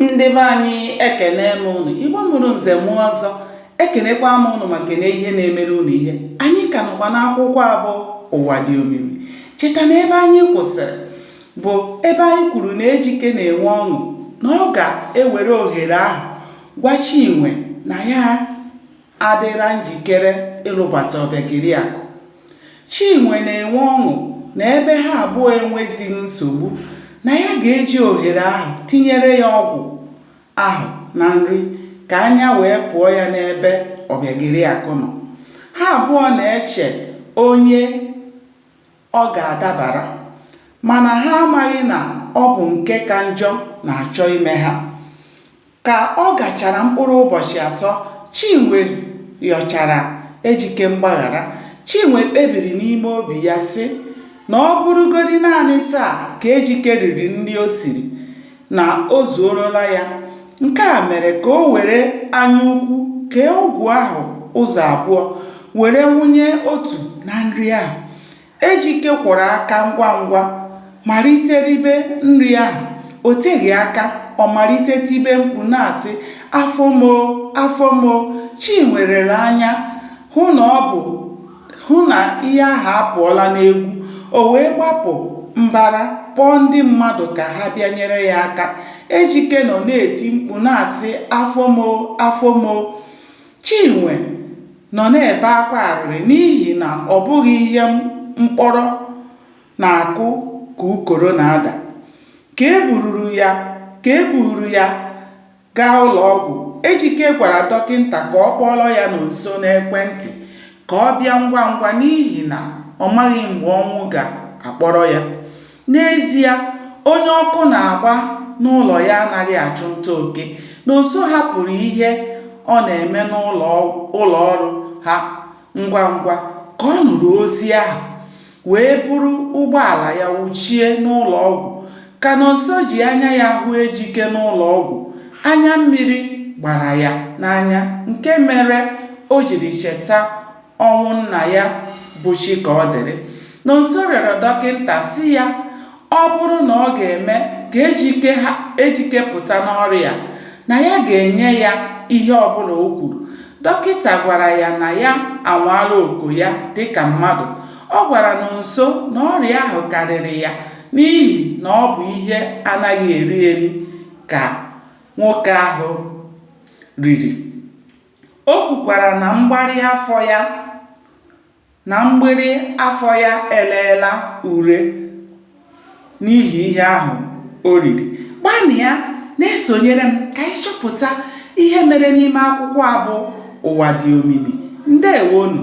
ndị be anyị ekene m ụnụ igbo mụrụ nze mụọ ọzọ ekenekwa m ụnụ ma kene ihe na-emere ụnụ ihe anyị ka nọkwa n'akwụkwọ abụ ụwa dị omimi cheta na ebe anyị kwụsịrị bụ ebe anyị kwuru na ejike na-enwe ọṅụ na ọ ga-ewere ohere ahụ gwa chinwe na ya adịla njikere ịlụbata Ọbịageriakụ. Chinwe na-enwe ọṅụ na ebe ha abụọ enwezighị nsogbu, na ya ga-eji ohere ahụ tinyere ya ọgwụ ahụ na nri ka anya wee pụọ ya n'ebe Ọbịageriakụ nọ. Ha abụọ na-eche onye ọ ga-adabara mana ha amaghị na ọ bụ nke ka njọ na-achọ ime ha. Ka ọ gachara mkpụrụ ụbọchị atọ, Chinwe rịọchara Ejike mgbaghara. Chinwe kpebiri n'ime obi ya sị na ọ bụrụgodi naanị taa ka Ejike riri nri o siri, na o zuorola ya. Nke a mere ka o were anyaukwu kee ọgwụ ahụ ụzọ abụọ were wụnye otu na nri ahụ. Ejike kwọrọ aka ngwa ngwa malite ribe nri ahụ. O teghị aka, ọ malite tibe mkpu na-asị, afọ m o, afọ m o. Chinwe lere anya hụ na ọ bụ hụ na ihe ahụ apụọla n'egwu. O wee gbapụ mbara kpọọ ndị mmadụ ka ha bịa nyere ya aka. Ejike nọ na-eti mkpu na-asị, afọ m o, afọ m o. Chinwe nọ na-ebe akwa arịrị n'ihi na ọ bụghị ihe mkpọrọ na-akụ ka ukoro na-ada. Ka e bururu ya ka e bururu ya gaa ụlọọgwụ, Ejike gwara dọkịnta ka ọ kpọọrọ ya Nonso n'ekwentị ka ọ bịa ngwa ngwa n'ihi na ọ maghị mgbe ọnwụ ga-akpọrọ ya. N'ezie, onye ọkụ na-agba n'ụlọ ya anaghị achụ nta oke. Nonso hapụrụ ihe ọ na-eme n'ụlọ ọrụ ha ngwa ngwa ka ọ nụrụ ozi ahụ, wee buru ụgbọala ya wụchie n'ụlọ ọgwụ. Ka Nonso ji anya ya hụ Ejike n'ụlọ ọgwụ, anya mmiri gbara ya n'anya nke mere o jiri cheta ọnwụ nna ya bụ Chikaọdịrị Nonso rịọrọ dọkịta sị ya ọ bụrụ na ọ ga-eme ka ejike pụta n'ọrịa na ya ga-enye ya ihe ọbụla o kwuru dọkịta gwara ya na ya anwaala oko ya dịka mmadụ ọ gwara Nonso na ọrịa ahụ karịrị ya n'ihi na ọ bụ ihe a naghị eri eri ka nwoke ahụ riri O kwukwara na mgbari afọ ya na mgbịrị afọ ya eleela ure n'ihi ihe ahụ o riri. Gbanịa na-esonyere m ka anyị chọpụta ihe mere n'ime akwụkwọ a bụ Ụwa Dị Omimi. Ndeewonụ.